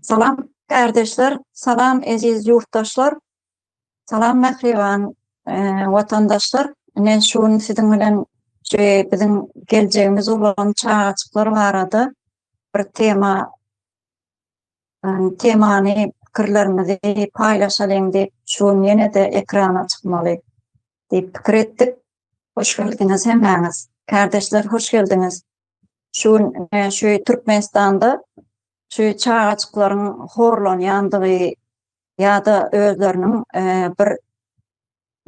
Salam kärdeşler, salam eziz ýurtdaşlar, salam mähriban watandaşlar. Ine şu gün siziň bilen şu biziň geljegimiz bolan çagajyklar barada bir tema temany pikirlerimizi paýlaşalyň diýip şu gün ýene-de ekrana çykmaly diýip pikir etdik. Hoş geldiňiz hemmäňiz. Kärdeşler hoş geldiňiz. Şu gün e, şu Türkmenistanda şu çagaçyklaryň horlanýandygy ýa-da özleriniň e, bir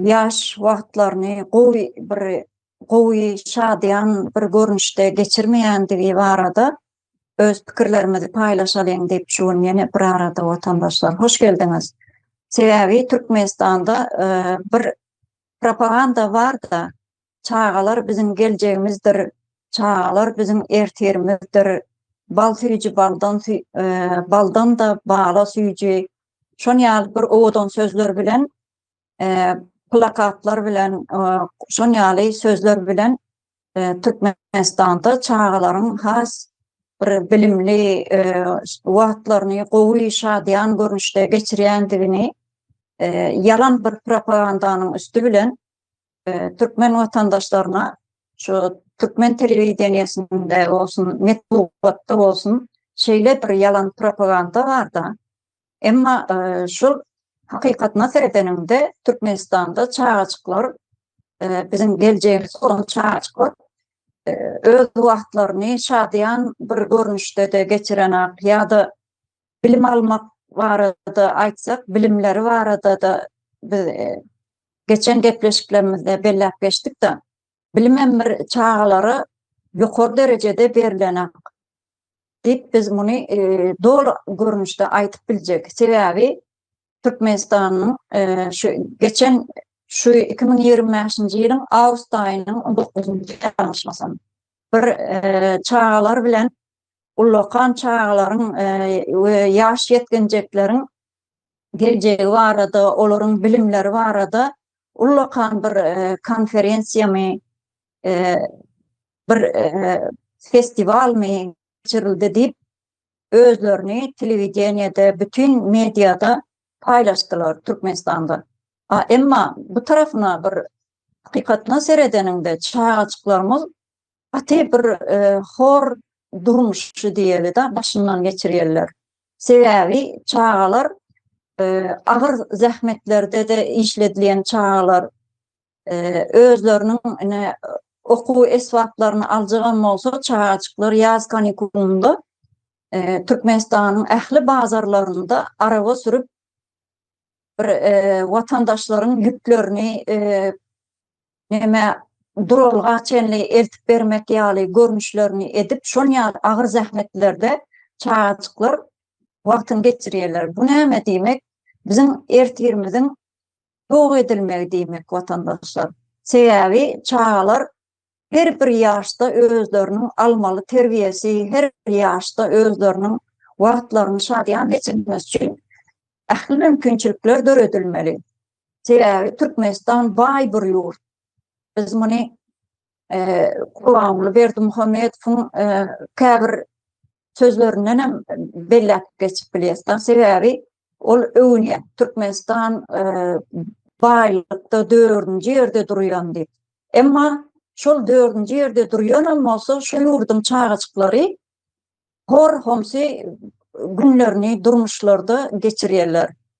ýaş wagtlaryny gowy bir gowy şadyýan bir görnüşde geçirmeýändigi barada öz pikirlerimizi paýlaşalyň diýip şu gün ýene bir arada watandaşlar hoş geldiňiz. Sebäbi Türkmenistanda e, bir propaganda bar da Çagalar biziň geljegimizdir, Çagalar biziň ertirimizdir, Bal süýji baldan baldan-da bala süýji, şon ýaly bir owadan sözler bilen plakatlar bilen şon ýaly sözler bilen Türkmenistanda çagalaryň has bir bilimli wagtlaryny gowy şadyýan görnüşde geçirýändigini ýalan bir propagandanyň üsti bilen türkmen watandaşlaryna şu türkmen telewideniýesinde bolsun, metbugatda bolsun şeýle bir ýalan propaganda bar-da. Emma şol hakykatyna seredeniňde Türkmenistanda çagajyklar biziň geljegimiz bolan çagajyklar öz wagtlaryny şadyýan bir görnüşde-de geçirenak ýa-da bilim almak barada aýtsak, bilimleri barada-da biz Geçen gepleşiklerimizde belläp geçdik-de, bilimem bir çagalara ýokary derejede berlenak diýip biz muny doly görnüşde aýdyp biljek. Sebäbi Türkmenistanyň şu geçen şu iki müň ýigrimi bäşinji ýylyň awgust aýynyň on dokuzynjy ýalňyşmasam bir çagalar bilen ullakan çagalaryň we ýaş ýetginjekleriň geljegi barada, olaryň bilimleri barada ullakan bir konferensiýamy, bir festiwalmy geçirildi diýip, özlerini telewideniýede, bütin mediada paýlaşdylar Türkmenistanda. A emma bu tarapyna bir hakykatdan seredeniňde çagajyklarymyz gaty bir hor durmuşy diýeli-de başyndan geçirýärler. Sebäbi çagalar agyr zähmetlerde-de işledilýän çagalar özleriniň ine okuw esbaplaryny aljagam bolsa çagajyklar ýaz kanikulynda Türkmenistanyň ähli bazarlarynda araba sürüp bir watandaşlaryň ýüklerini näme duralga çenli eltip bermek ýaly görnüşlerini edip, şon ýaly agyr zähmetlerde çagajyklar wagtyny geçirýärler. Bu näme diýmek? Biziň ertirimiziň ýok edilmegi diýmek, watandaşlar. Sebäbi çagalar her bir ýaşda özleriniň almaly terbiýesi, her bir ýaşda özleriniň wagtlaryny şadyýan geçirmesi üçin ähli mümkinçilikler döredilmeli. Sebäbi Türkmenistan baý bir ýurt. Biz muny Gurbanguly Berdimuhamedowyň käbir sözlerinden hem belläp geçip bilýäs. Sebäbi ol öwünýär. Türkmenistan baýlykda dördünji ýerde durýan diýip. Emma şol dördünji ýerde durýanam bolsa, şu ýurduň çagajyklary hor-homsy günlerini durmuşlarda geçirýärler.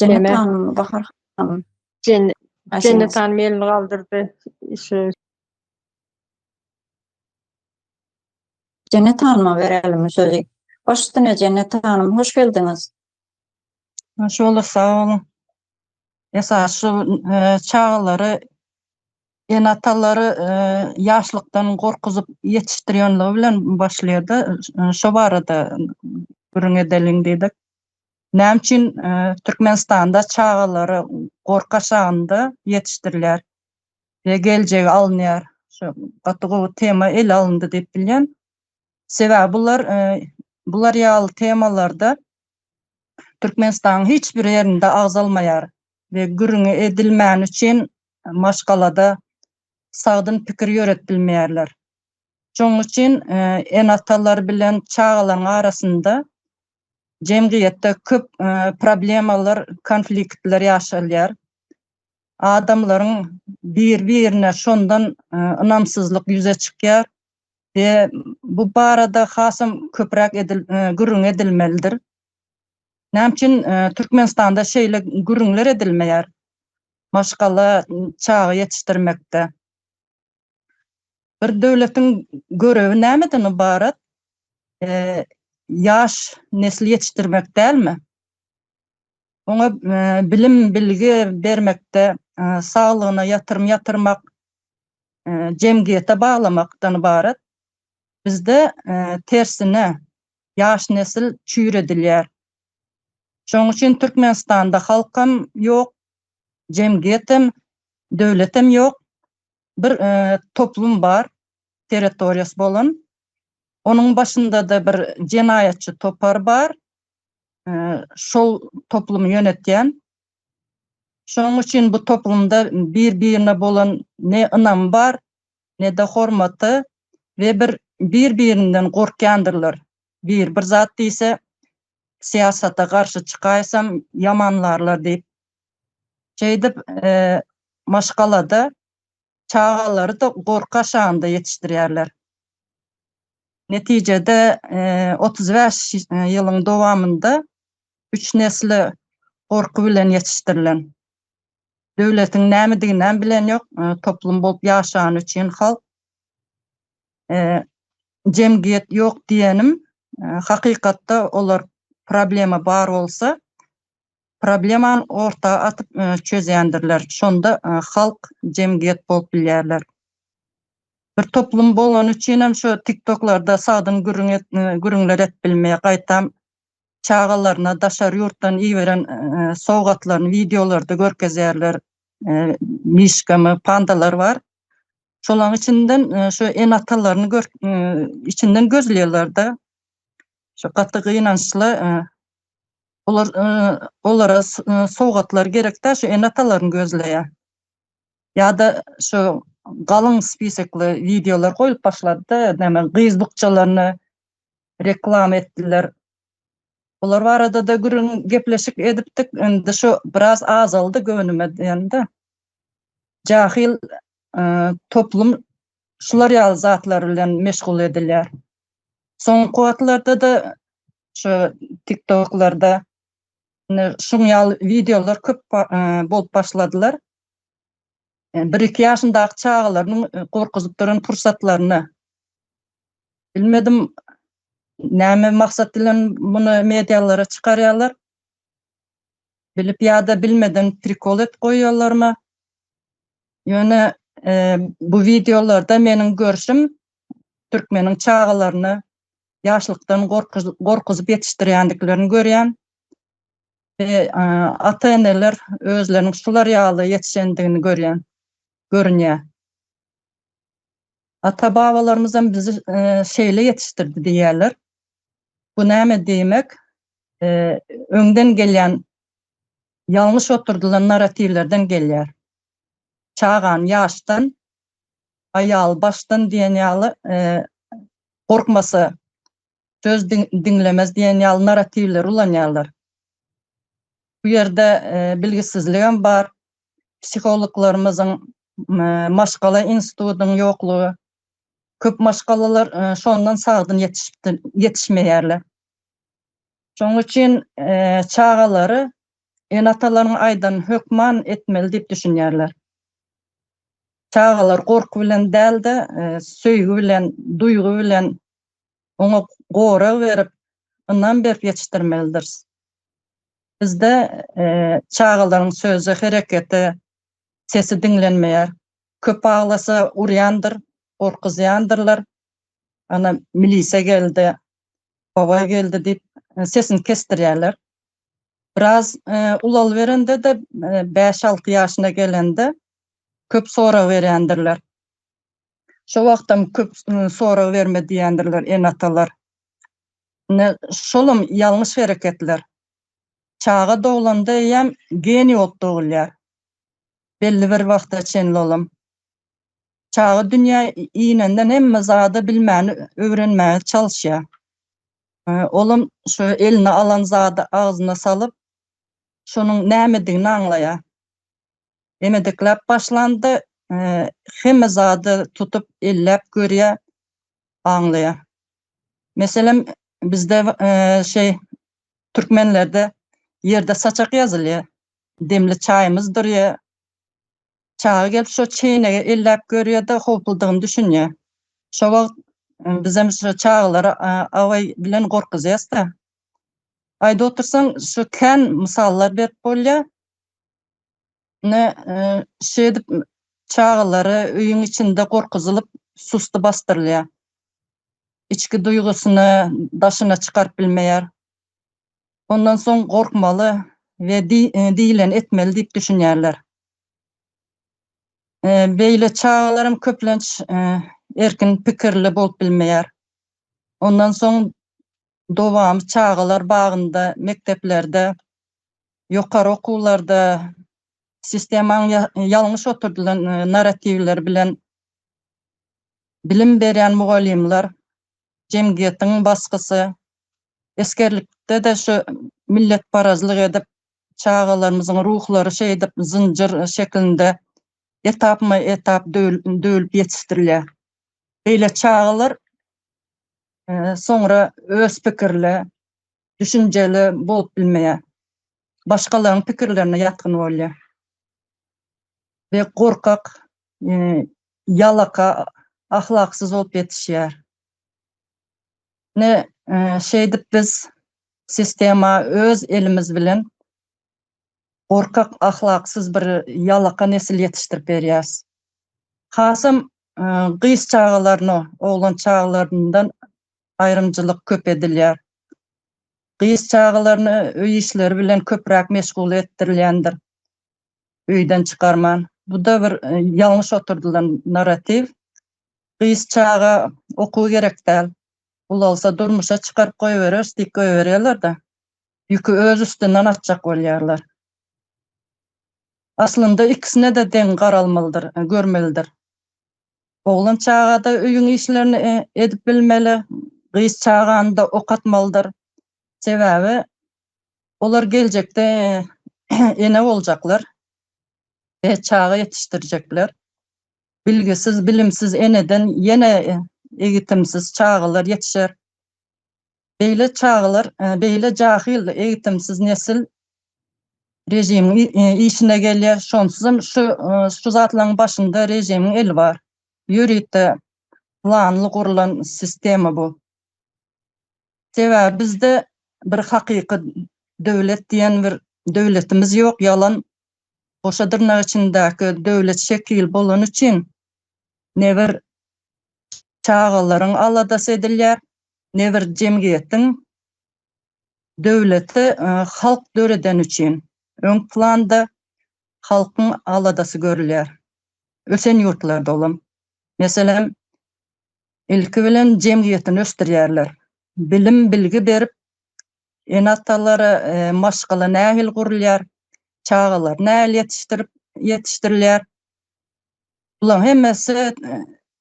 Jennetan Bahar hanym. Jennet hanym elini galdyrdy. Şu Jennet hanyma berelim sözü. Baş üstüne Jennet hanym, hoş geldiňiz. Hoş bulduk, sag boluň. Esas şu e, çagalary Ene-atalary ýaşlykdan gorkuzyp ýetişdirýänligi bilen başlaýar-da, şo barada gürrüň edeliň diýdik. Näme üçin Türkmenistanda çagalary gorka çagynda ýetişdirilýär we geljegi alynýar? Şo gaty gowy tema ele alyndy diýip bilýän. Sebäbi bular bular ýaly temalarda Türkmenistanyň hiç bir ýerinde agzalmaýar. we gürrüňi edilmäni üçin maşgalada sagdyn pikir ýöret bilmeýärler. Şonuň üçin ene-atalar bilen çagalaryň arasynda jemgyýetde köp problemalar, konfliktler ýaşalýar. Adamlaryň bir-birine şondan ynamsyzlyk ýüze çykýar we bu barada hasam köpräk gürrüň edilmelidir. Näme üçin Türkmenistanda şeýle gürrüňler edilmeýär maşgala çaga ýetişdirmekde? Bir döwletiň görewi nämeden ybarat? Ýaş nesli ýetişdirmek dälmi? Oňa bilim, bilgi bermekde, saglygyna ýatyrym ýatyrmak, jemgyýete baglamakdan ybarat. Bizde tersine, ýaş nesil çüýredilýär. Şonuň üçin Türkmenistanda halkam ýok, jemgyýetem, döwletem ýok. Bir toplum bar, territoriýasy bolan. Onuň başynda-da bir jenaýatçy topar bar. Şol toplumy ýönetýän. Şonuň üçin bu toplumda bir-birine bolan ne ynamy bar, ne-de hormata we bir bir-birinden gorkýandyrlar. Bir bir zat diýse, syýasata garşy çykaýsam ýamanlarlar diýip. Şeýdip, maşgalada çagalary-da gorka şanda ýetişdirýärler. Netijede, otuz bäş ýylyň dowamynda üç nesli gorky bilen ýetişdirilen. Döwletiň nämediginem bilen ýok. Toplum bolup ýaşany üçin halk jemgyýet ýok diýenim hakykatda olar problema bar bolsa problemany orta atyp çözýändirler. Şonda halk jemgyýet bolup bilýärler. Bir toplum bolany üçin hem şu tiktoklarda sagdyn gürüň gürüňler et bilmeýär. Gaýtam çagalaryna daşary ýurtdan iberen sowgatlaryny wideolarda görkezýärler. Mişgamy, pandalar bar. Şolaryň içinden şu ene-atalaryny gör içinden gözleýärler-de. Şu gaty gynançly. Olar olara sowgatlar gerek-de, şu ene-atalaryny gözleýär. Ýa-da şu galyň spisekli wideolar goýlup başlady-da, näme gyz bukjalaryny reklama etdiler. Bular barada-da gürrüň gepleşik edipdik. Indi şu biraz azaldy göwnüme diýende. Jahil toplum şular ýaly zatlar bilen meşgul edilýär. Soňky wagtlarda-da şu TikToklarda şuň ýaly wideolar köp bolup başladylar. bir-iki ýaşyndaky çagalarynyň gorkuzyp duran pursatlaryna bilmedim näme maksat bilen muny medialara çykarýarlar. Bilip ýa-da bilmeden prikol et goýýarlarmy? Ýöne e, bu wideolarda meniň görşüm türkmeniň çagalaryny ýaşlykdan gorkuzyp ýetişdirýändiklerini görýän. Ata-eneler özleriniň şular ýaly ýetişendigini görýän, görünýär. Ata-babalarymyzam bizi şeýle ýetişdirdi diýýärler. Bu näme diýmek? Öňden gelýän ýalňyş oturdylan narratiwlerden gelýär. Çagany ýaşdan, aýaly başdan diýen ýaly gorkmasa söz diňlemez diýen ýaly narratiwleri ulanýarlar. Bu ýerde e, bilgisizligem bar. Psihologlarymyzyň e, maşgala institutynyň ýoklugy. Köp maşgalalar e, şondan sagdyn ýetişip ýetişmeýärler. Şonuň üçin çagalary ene-atalaryň aýdan hökman etmeli diýip düşünýärler. Çagalar gorky bilen däl-de, söýgi bilen, duýgy bilen oňa gorag berip, ynam berip ýetişdirmelidiris. Bizde çagalaryň söze, herekete, sesi diňlenmeýär. Köp aglasa urýandyr, gorkuzýandyrlar. Ana, milise geldi, babaý geldi diýip, sesini kesdirýärler. Biraz ulalyberende-de, bäş-alty ýaşyna gelende köp sorag berýändirler. Şo wagtam köp sorag berme diýendirler ene-atalar. Ine, şolam ýalňyş hereketler. Çaga doglanda eýýäm geniý bolup dogulýar. Belli bir wagta çenli olam. Çaga dünýä inenden hemme zady bilmäni öwrenmäge çalyşýar. Olam şu eline alan zady agzyna salyp, şonuň nämedigini aňlaýar. Emediklap başlandy. Hemme zady tutup elläp görýä, aňlaýa. Meselem bizde şeý türkmenlerde ýerde saçak ýazylýa. Demli çaýymyz durýa. Çaga gelip şo çeýnegi elläp görýä-de howpludygyny düşünýä. Şo wagt bizem şo çagalary awaý bilen gorkuzýas-da. Aýda otursaň şo kän mysallar berip bolýa. Ine, şeýdip çagalary öýüň içinde gorkuzylyp, susty basdyrylýar. Içki duýgusyny daşyna çykaryp bilmeýär. Ondan soň gorkmaly we diýileni etmeli diýip düşünýärler. Beýle çagalaram köplenç erkin pikirli bolup bilmeýär. Ondan soň dowamy çagalar bagynda, mekdeplerde, ýokary okuwlarda sistemaň ýalňyş oturdylan narratiwleri bilen bilim berýän mugallymlar, jemgyýetiň basgysy, esgerlikde-de şu milletparazlyk edip, çagalarymyzyň ruhlary şeýdip zynjyr şeklinde etapma-etap döwülip ýetişdirilýär. Beýle çagalar soňra öz pikirli, düşünjeli bolup bilmeýär. Başgalaryň pikirlerine ýatgyn bolýar. Ve gorkak, e, ýalaka, ahlaksyz bolup ýetişýär. Ne e, şeýdip biz sistema öz elimiz bilen gorkak ahlaksyz bir ýalaka nesil ýetişdirip berýäs. Hasam gyz çagalaryna oglan çagalaryndan aýrymcylyk köp edilýär. Gyz çagalaryny öý işleri bilen köpräk meşgul etdirilýändir. Öýden çykarman. Bu-da bir ýalňyş oturdylan narratiw. Gyz çaga okuw gerek däl. Ulalsa durmuşa çykaryp goýbereris diýip goýberýärler-de. ýüki öz üstünden atjak bolýarlar. Aslynda ikisine-de deň garalmalydyr, görmelidir. Oglan çaga-da öýüň işlerini edip bilmeli, gyz çagany-da okatmalydyr. Sebäbi olar geljekde ene boljaklar, çaga ýetişdirjekler. Bilgisiz, bilimsiz eneden ýene egitimsiz çagalar ýetişer. Beýle çagalar, beýle jahyl, egitimsiz nesil režimiň işine gelýär. Şonsuzam şu şu zatlaryň başynda režimiň eli bar. Ýörite planly gurlan sistema bu. Sebäbi bizde bir hakyky döwlet diýen bir döwletimiz ýok, ýalan goşa dyrnak içindäki döwlet şekili bolany üçin ne bir çagalaryň aladasy edilýär, ne bir jemgyýetiň döwleti halk döredeni üçin öň planda halkyň aladasy görülýär. Ösen ýurtlarda olam, meselem, ilki bilen jemgyýetini ösdürýärler, bilim-bilgi berip, Ene-atalara maşgala nähili gurulýar? Çagalar nähili ýetişdirip ýetişdirilýär? Bularyň hemmesi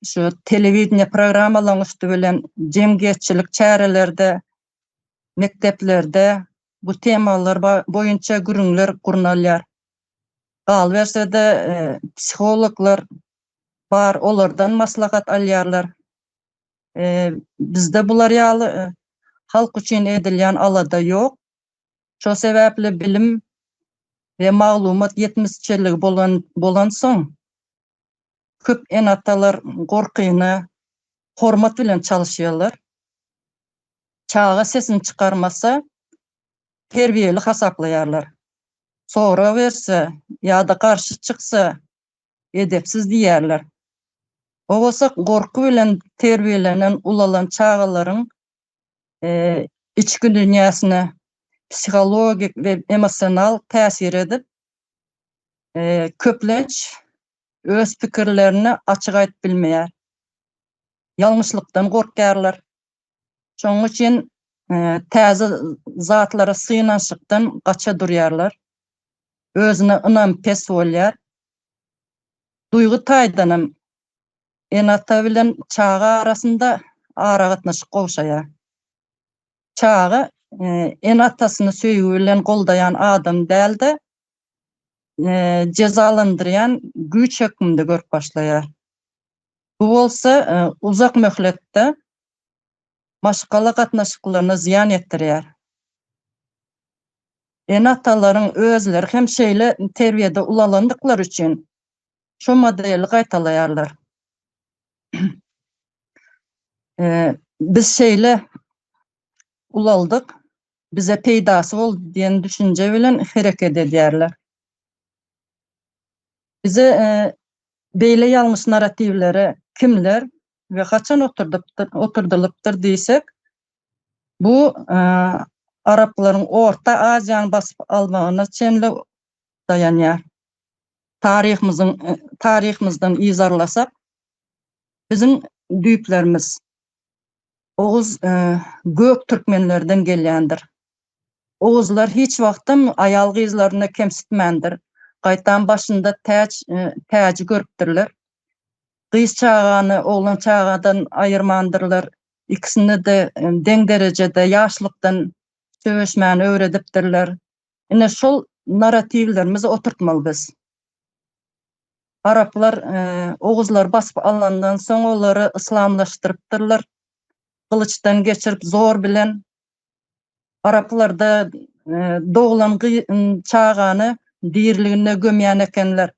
şu telewideniýe programmalaryň üsti bilen jemgyýetçilik çärelerde, mekdeplerde bu temalar boýunça gürrüňler gurnalýar. Galyberse-de, psihologlar bar, olardan maslahat alýarlar. Ee, bizde bular ýaly e, halk üçin edilýän alada ýok. Şo sebäpli bilim we maglumat ýetmezçiligi bolan bolansoň köp enatalar gorkyna hormat bilen çalyşýarlar. Çaga sesini çykarmasa terbiýeli hasaplaýarlar. Sora berse ýa-da garşy çyksa edepsiz diýerler. Gowasa gorky bilen terbiýelenen ulalan çagalaryň içki dünýäsine psihologik we emosional täsir edip, köplenç öz pikirlerini açyk aýdyp bilmeýär. Ýalňyşlykdan gorkýarlar. Şonuň üçin täze zatlara synanyşykdan gaça durýarlar. Özüne ynam pes bolýar. Duýgy taýdan hem ene-ata bilen çaga arasynda aragatnaşyk gowşaýar. Çaga ene-atasyny söýgi bilen goldaýan adam däl-de, jezalandyrýan güýç hökmünde görüp başlaýar. Bu bolsa uzak möhletde maşgala gatnaşyklaryna zyýan ýetirýär. Ene-atalaryň özleri hem şeýle terbiýede ulalandyklary üçin şu modeli gaýtalaýarlar. Biz şeýle ulaldyk, bize peýdasy boldy diýen düşünje bilen hereket edýärler. Bize beýle ýalňyş narratiwlere kimler we haçan oturdypdyr, oturdylypdyr diýsek, bu araplaryň Orta Aziýany basyp almagyna çenli daýanýar. Taryhymyzyň taryhymyzdan yzarlasak, biziň düýplerimiz Oguz gök türkmenlerden gelýändir. Oguzlar hiç wagtam aýal-gyzlaryny kemsitmändir. Gaýtam başynda täç, täji görüpdirler. Gyz çagany oglan çagadan aýyrmandyrlar. Ikisini-de deň derejede ýaşlykdan söweşmäni öwredipdirler. Ine şol naratiwlerimizi oturtmaly biz. Araplar oguzlary basyp alandan soň olary yslamlaşdyrypdyrlar. Gylyçdan geçirip zor bilen araplarda doglan çagany diriligine gömýän ekenler.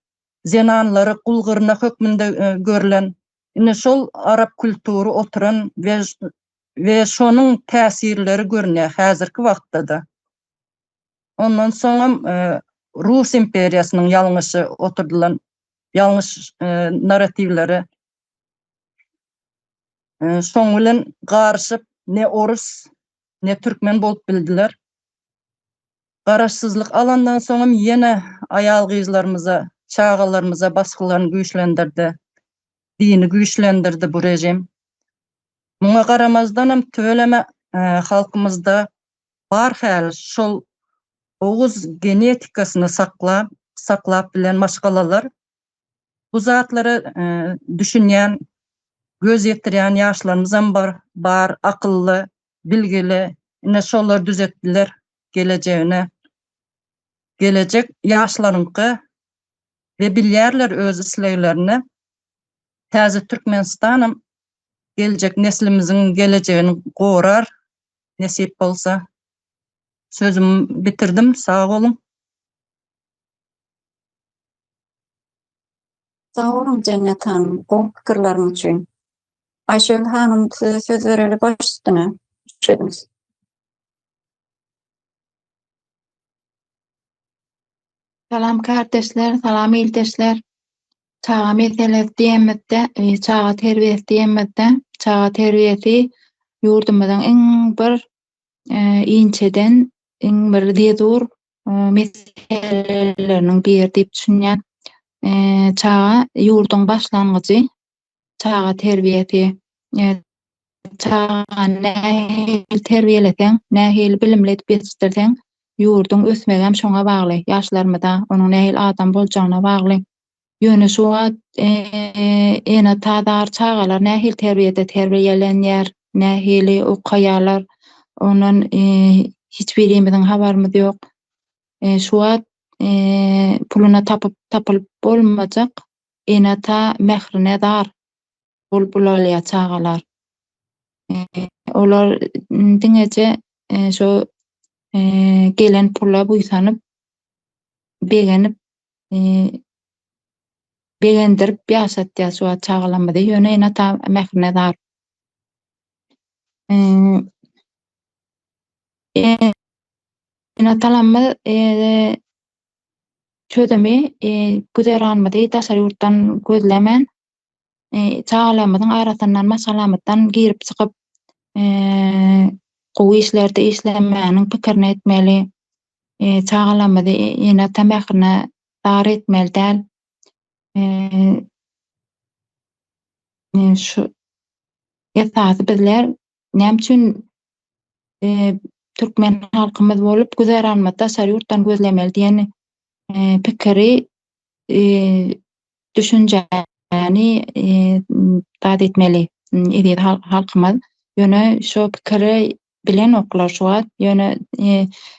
Zenanlary gul gyrnak hökmünde görlen. Ine şol arap kultury oturan we şonuň täsirleri görünýär häzirki wagtda-da. Ondan soňam Rus imperiýasynyň ýalňyşy oturdylan ýalňyş narratiwleri şoň bilen garyşyp ne orus, ne türkmen bolup bildiler. Garaşsyzlyk alandan soňam ýene aýal-gyzlarymyza, çagalarymyza basgylaryny güýçlendirdi. Dini güýçlendirdi bu režim. Muňa garamazdanam tüweleme halkymyzda bar häli şol oguz genetikasyny saklap saklap bilen maşgalalar bu zatlara düşünýän göz ýetirýän ýaşlarymyzam bar bar akylly bilgili ine şolar düzetdiler gelejegini gelejek ýaşlaryňky we bilýärler öz isleglerini täze türkmenistanam geljek neslimiziň gelejegini gorar nesip bolsa. Sözümi bitirdim. Sag boluň. Sag boluň Jennet hanym, gowy pikirleriňiz üçin. Aýşegül hanym, size söz bereli baş üstüne. Sözüňiz. Salam kardeşler, salam ildeşler. Çaga meselesi diýemizde, e, çaga terbiýesi diýemizde, çaga terbiýesi ýurdumyzyň iň bir e, inçeden, iň bir zezur e, meseleleriniň biri diýip düşünýän. E, çaga ýurduň başlangyjy, çaga terbiýesi, e, çagany nähili terbiýeleseň, nähili bilimli edip ýetişdirseň, ýurduň ösmegi hem şoňa bagly, ýaşlarymyza, onuň nähili adam boljagyna bagly. Ýöne şu wagt e, ene tadar çagalar nähili terbiýede terbiýelenýär, nähili okaýarlar, ondan e, hiç birimiziň habarymyz ýok. E, şu wagt e, puluna tapyp tapylyp bolmajak Ene-ata mährine zar bolup ulalýar çagalar. Olar diňeje şo gelen pula buýsanyp, begenip, begendirip ýaşatýar şu wagt çagalarymyzy. Ýöne ene-ata mährine zar. Ene-atalarymyz çözümi güzeranymyzy daşary ýurtdan gözlemän, çagalarymyzyň arasyndan maşgalamyzdan girip-çykyp gowy işlerde işlemäniň pikirini etmeli, çagalarymyzy ene-ata mährine zar etmeli däl. Şu esasy bizler Näme üçin türkmen halkymyz bolup güzeranymy daşary ýurtdan gözlemeli diýen pikiri düşünjäni zat etmeli eziz halkymyz. Ýöne şu pikiri bilenoklar şu wagt. Ýöne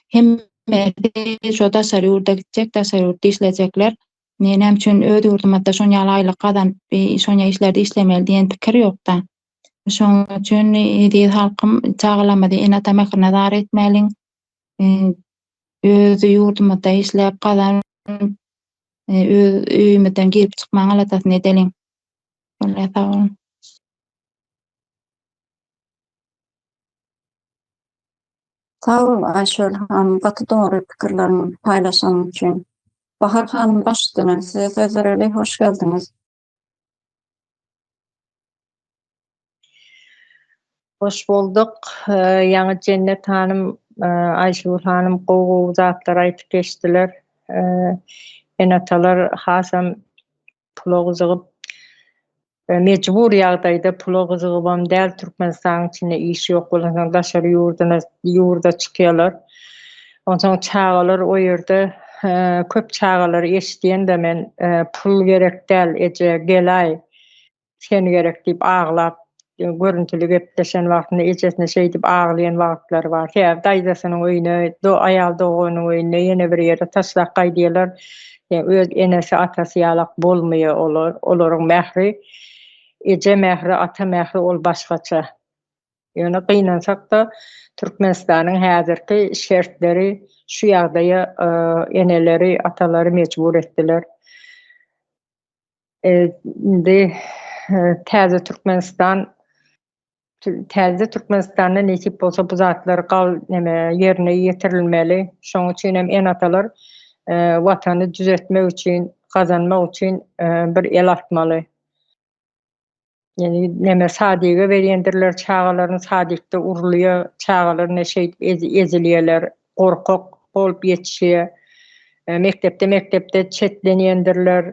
hemmesi şu daşary ýurda gitjek, daşary ýurtda işlejekler. Näme üçin öz ýurdumyzda şonýaly aýlyk gazanyp, şonýa işlerde işlemeli diýen pikir ýokda. Şonuň üçin eziz halkym çagalarymyzy ene-ata mährine zar etmäliň. Öz ýurdumyzda işläp gazanyp, öz öýümizden girip çykmaň aladasyny edeliň. Şonda sag boluň. Sag bol Aýşöl hanym, gaty dogry pikirleriňi paýlaşanyň üçin. Bahar hanym, baştutan size sözler eli, hoş geldiňiz. Hoş bolduk. Ýaňy Jennet hanym, Aýşugul hanym gowy-gowy zatlar aýdyp geçdiler. Ene-atalar hasam pula gyzygyp, mejbur ýagdaýda pula gyzygybam däl, Türkmenistanyň içinde iş ýok bolansoň daşary ýurda çykýarlar. Onsoň çagalar o ýerde köp çagalar eşidýän-de men pul gerek däl eje gelaý sen gerek diýip aglap görüntili gepleşen wagtynda ejesine şeýdip aglaýan wagtlary bar. Sebäbi daýzasynyň öýüne aýal doganynyň öýüne ýene bir ýere taşlap gaýdýarlar. Öz enesi atasy ýalak bolmaýar olar. Olaryň mähri eje mähri ata mähri ol başgaça. Ýöne gynansak-da, Türkmenistanyň häzirki şertleri şu ýagdaýa eneleri, atalary mejbur etdiler. Indi täze Türkmenistan, täze Türkmenistanda nesip bolsa bu zatlar ýerine ýetirilmeli. Şonuň üçin hem ene-atalar Watany düzetmek üçin, gazanmak üçin bir el atmaly. Ýöne näme sadiga berýändirler çagalaryny sadikde urulýar, çagalar ne şeýdip ezilýärler, gorkak bolup ýetişýär. E, mekdepde mekdepde çetlenýändirler.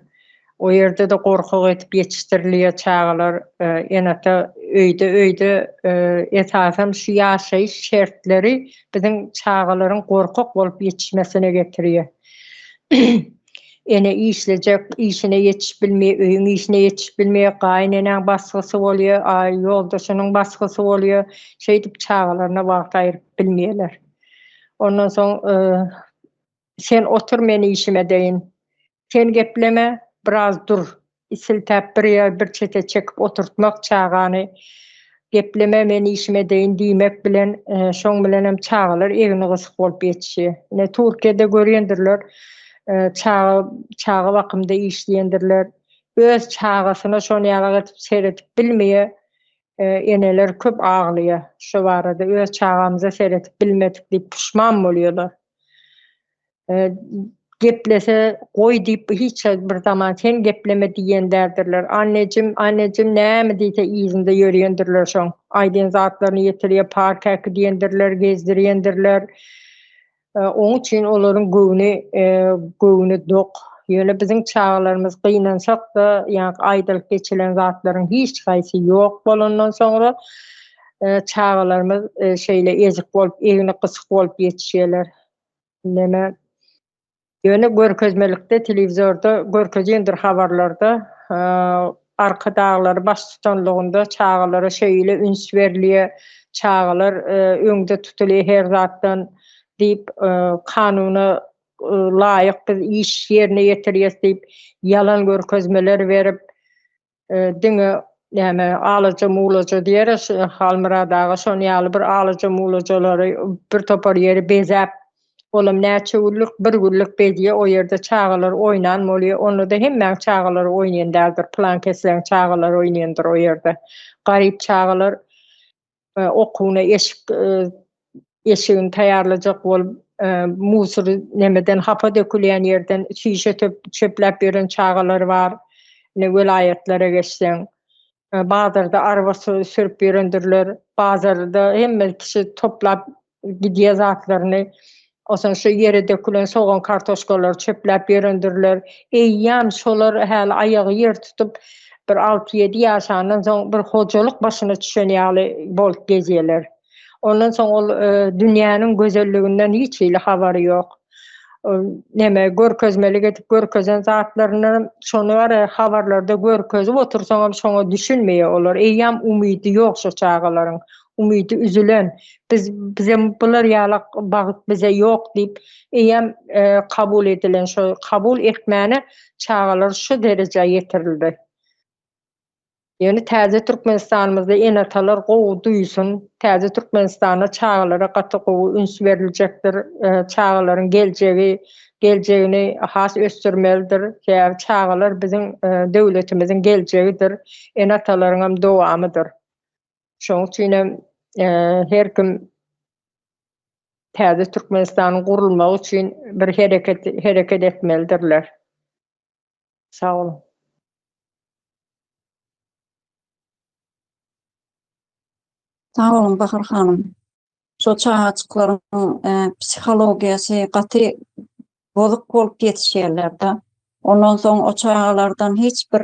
O ýerde-de gorkak edip ýetişdirilýär çagalar. E, Enata öýde öýde e, esasan şu ýaşaýyş şertleri biziň çagalaryň gorkak bolup ýetişmesine getirýär. Ene işlejek, işine ýetişip bilmeýär, öýüň işine ýetişip bilmeýär, gaýyneneň basgysy bolýar, a ýoldaşynyň basgysy bolýar, şeýdip çagalaryna wagt aýryp bilmeýärler. Ondan soň sen otur men işim edeýin, sen gepleme biraz dur, I siltäp bir ýer bir çete çekip oturtmak çagany gepleme men işim edeýin diýmek bilen şoň bilenem çagalar egni gysyk bolup ýetişýär. Ine Turkiýada görýändirler çaga çaga bakymda işleýändirler öz çagasyna şon ýalak edip seredip bilmeýä eneler köp aglaýa şo barada öz çagamyza seredip bilmedik diýip puşman bolýalar. geplese goý diýip hiç bir zaman sen gepleme diýenlerdirler. Annejim, annejim näme diýse yzynda ýörýändirler şoň. Aýdýan zatlaryny ýetirýä, park äki diýendirler, gezdirýändirler. E, oň üçin olaryň göwni e, göwni dok. Ýöne biziň çagalarymyz gynansak-da, ýagny aýdylyp geçilen zatlaryň hiç haýsy ýok bolandan soňra e, çagalarymyz şeýle ezik bolup, egni gysyk bolup ýetişýärler. Neme? Ýöne görkezmelikde, telewizorda görkezendir habarlarda, Arkadaglary baştutanlygynda çagalara şeýle üns berilýär, çagalar öňde tutulýar her zatdan diýip, kanuna laýyk biz iş ýerine ýetirýäs diýip, ýalan görkezmeler berip, Diňe näme alaja-mulaja diýeris, Halmyrat aga şon ýaly bir alaja-mulajalary bir topar ýeri bezäp, olam näçe günlük, bir günlük bezýär, o ýerde çagalar oýnan bolýar, onda-da hemmäň çagalary oýnaýan däldir, pylan-kesläň çagalary oýnaýandyr o ýerde. Garyp çagalar e, okuwyna eşik eşigini taýýarlajak bolup musur nemeden hapa dökülýän ýerden şişe çöpläp ýören çagalar bar. Ne welaýatlara geçseň, bazarda araba sürüp ýörendirler. Bazarda hemme kişi toplap Gidýä zatlaryny Onsoň şu ýere dökülen sogan kartoşkalary çöpläp ýörendirler. Eýýäm şolar häli aýagy ýer tutup bir alty ýedi ýaşandan soň bir hojalyk başyna düşen ýaly bolup gezýäler. Ondan soň ol dünýäniň gözelliginden hiç hili habary ýok. neme görkezmeli edip görkezen zatlaryny şony gara habarlarda görkezip otursaň hem şoňa düşünmeýär olar eýýäm umydy ýok şu çagalaryň umydy üzülen biz bize bular ýaly bagt bize ýok diýip eýýäm e, kabul edilen şu kabul etmäne çagalar şu derejä ýetirildi Ýöne täze Türkmenistanymyzda ene-atalar gowy duýsun, täze Türkmenistanda çagalara gaty gowy üns beriljekdir. Çagalaryň geljegi, geljegini has ösdürmelidir. Sebäbi çagalar biziň döwletimiziň geljegidir, ene-atalaryň hem dowamydyr. Şonuň üçin hem her kim täze Türkmenistanyň gurulmagy üçin bir hereket, hereket etmelidirler. Sag boluň. Sag boluň Bahar hanym. Şo çagajyklaryň psihologiýasy gaty bozuk bolup ýetişýärler-de. Ondan soň o çagalardan hiç bir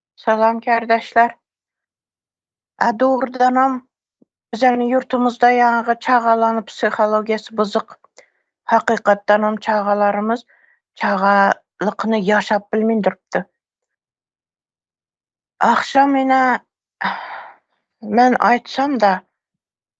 Salam kärdeşler. A dogrudanam biziň ýurtumyzda ýaňy çagalanyň psihologiýasy buzuk. Hakykatdanam çagalarymyz çagalykyny ýaşap bilmin durupdy. Agşam ine men aýtsam-da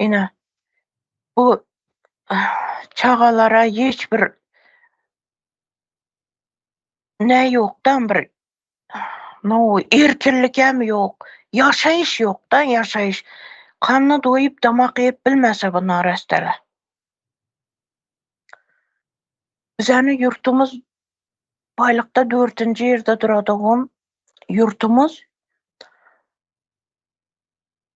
Ine, bu çagalara hiç bir ne ýokdan bir no erkinlik hem ýok. Ýaşaýyş ýokda, ýaşaýyş. Kanna doýup, damak iýip bilmese bu narastala. Bizäni ýurtumyz baýlykda dördünji ýerde duradygym ýurtumyz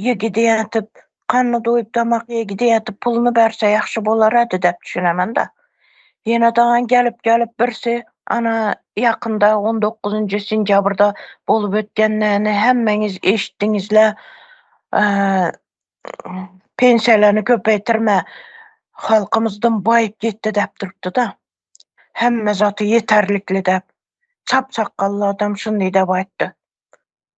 Ýigidi ýatyp, kanny duýup damak ýigidi ýatyp puluny berse ýagşy bolarady dep düşünemenda. Ýene daňan gelip gelip birsi ana ýakynda on dokuzynjy sentýabrda bolup ötýänlerini hemmeňiz eşitdiňizle pensiýalany köpeýtirme halkymyz dym baýyp gitdi dep durupdyda. Hemme zaty ýeterlikli dep. Çap sakgally adam şundy dep aýtdy.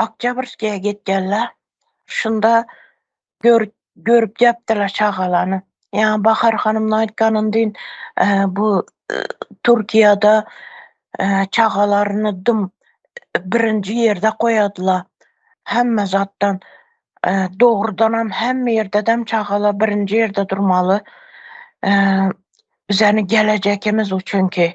Oktýabrskiýa gitýärler. Şunda görüp görüp diýipdirler çagalany. Ýa Bahar hanymyň aýtganyny deýin, bu Türkiýede çagalaryny dym birinji ýerde goýadylar. Hemme zatdan dogrudan hem hemme ýerde dem çagalar birinji ýerde durmaly. Bizäni gelejekimiz üçin ki.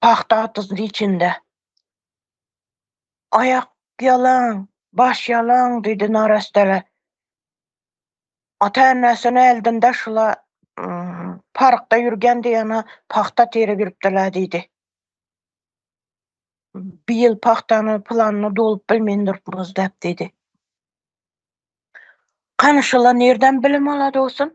pagta atyzyn içinde. Aýak ýalaň, baş ýalaň diýdi narastele. Ata-enesini äldinde şula parkda ýürgen diýene pagta tire giripdirler diýdi. Bu ýyl pagtany planyny dolup bilmeýin durupmyz dep diýdi. Kanyşyla nirden bilim ala dostum?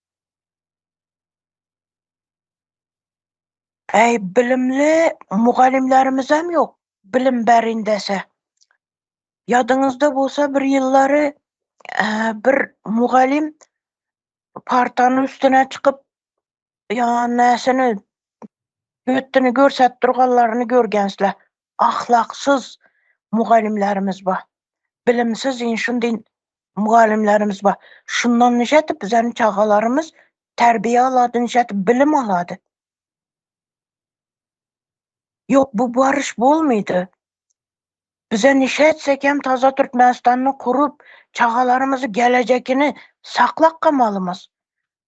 Äý bilimli mugallymlarimizem ýok bilim berin dese. Ýadyňyzda bolsa bir ýyllary bir mugallym partanyň üstüne çykyp ýa näsini hötdini görsäp durganlaryny görgensle. ahlaksyz mugallymlarymyz bar. Bilimsiz in şunday mugallymlarymyz bar. Şundan nice etip bizäni çagalarymyz terbiýe alady, nice etip bilim alady. Ýok bu baryş bolmady. Bize nice etsek hem taze Türkmenistanda kurup çagalarymyzy gelejekini saklap gamalymyz.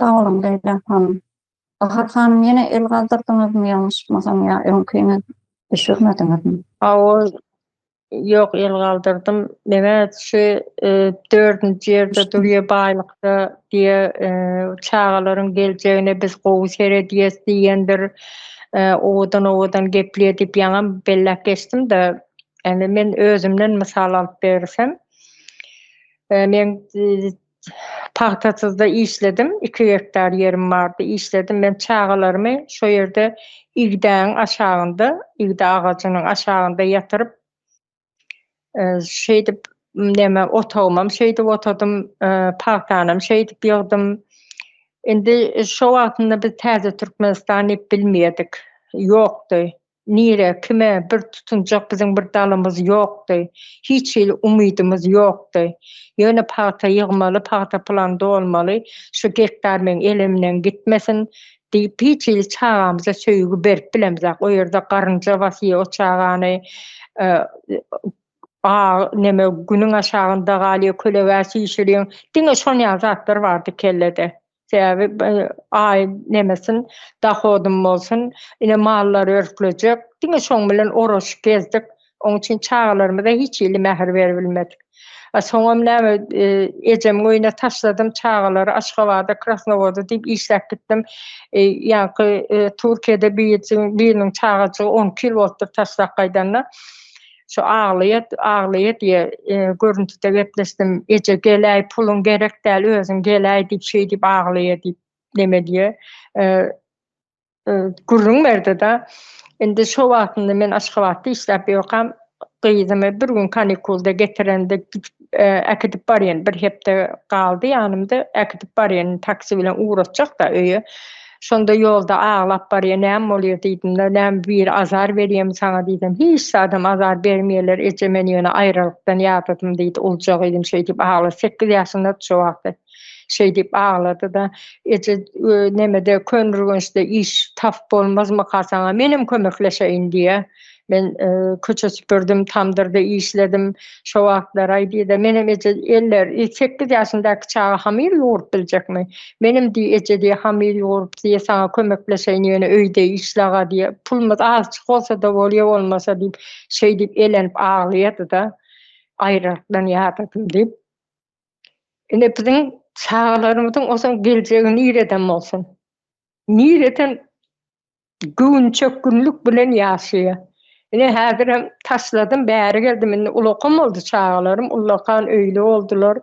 Sag boluň Leýla hanym. Bahar hanym ýene el galdyrdyňyzmy ýalňyşmasam ýa öňkini düşürmediňizmi? Hawa ýok el galdyrdym. Meňä şu e, dördünji ýerde durýar baýlykda diýe e, çagalaryň geljegine biz gowy seredýäs diýen bir e, owadan owadan gepleýär diýip ýaňam belläp geçdim-de. Indi men özümden mysal alyp bersem, Men pagtasyzda işledim, iki gektar ýerim bardy, işledim. Men çagalarymy şo ýerde igdäniň aşagynda, igde agajynyň aşagynda ýatyryp, şeýdip, neme, otagymam şeýdip otadym, pagtanam şeýdip ýygdym. Indi şo wagtynda biz Täze Türkmenistan diýip bilmeýärdik, ýokdy. Nirä, kime bir tutunjak biziň bir dalymyz ýokdy. Hiç hili umydymyz ýokdy. Ýöne pagta ýygmaly, pagta plan dolmaly, şu gektar meň elimden gitmesin diýip, hiç hili çagamyza söýgi berip bilemzok. O ýerde garynja basýar o çagany. A neme, günüň aşagynda galýar, kölegä çişirýäň. Diňe şonýaly zatlar bardy kellede. Sebäbi aý nemesin, dohodym bolsun, ine mallar örklejek. Diňe şoň bilen oraşyp gezdik. Oň üçin çagalarymyza hiç hili mähir beribilmedik. A soňam näme, ejemiň öýüne taşladym çagalary, Aşgabada, Krasnowoda diýip işläp gitdim. Ýaňky Türkiýede biriniň çagajygy on iki ýyl bolupdyr taşlap gaýdanyna. Şu aglaýat, aglaýat diýe, görüntüde gepleşdim. Eje geläý, puluň gerek däl, özüň geläý diýip, şeý diýip aglaýa diýip, neme diýe, gürrüň berdi-de. Indi şo wagtynda men Aşgabatda işläp ýokam. Gyzymy bir gün kanikulda getirende gidip, Äkidip barýan, bir hepde galdy ýanymda, äkidip barýan, taksi bilen ugratjak-da öýe. Şonda ýolda aglap barýan, näme bolýar diýdim-de, näme biri azar berýärmi saňa diýsem, hiç zadam azar bermeýärler, eje men ýöne aýralykdan ýadadym diýdi, ulja gyzym şeýdip aglar, sekiz ýaşyndady şo wagty. Şeý diýip aglady-da, Eje, nämede, Köneürgençde iş tapyp bolmazmyka saňa, menem kömekleşeýin diýýä. Men köçe süpürdim, tamdyrda işledim. Şo wagtlar-aý diýdi, Menem, eje, eller, sekiz ýaşyndaky çaga hamyr ýugrup biljekmi? Menem diý, eje diý, hamyr ýugrup diý, saňa kömekleşeýin, ýöne öýde işle-aga diý, pulumyz azçyk bolsa-da bolýa bolmasa diýip, şeý diýip elenip aglaýady-da, Aýralyk bilen ýadadym diýip. Ine biziň çagalarymyzyň osaň geljegi nireden bolsun? Nireden göwünçökgünlik bilen ýaşaýar? Ine häzirem taşladym, bäri geldim, indi ulakam boldy çagalarym, ullakan öýli boldular.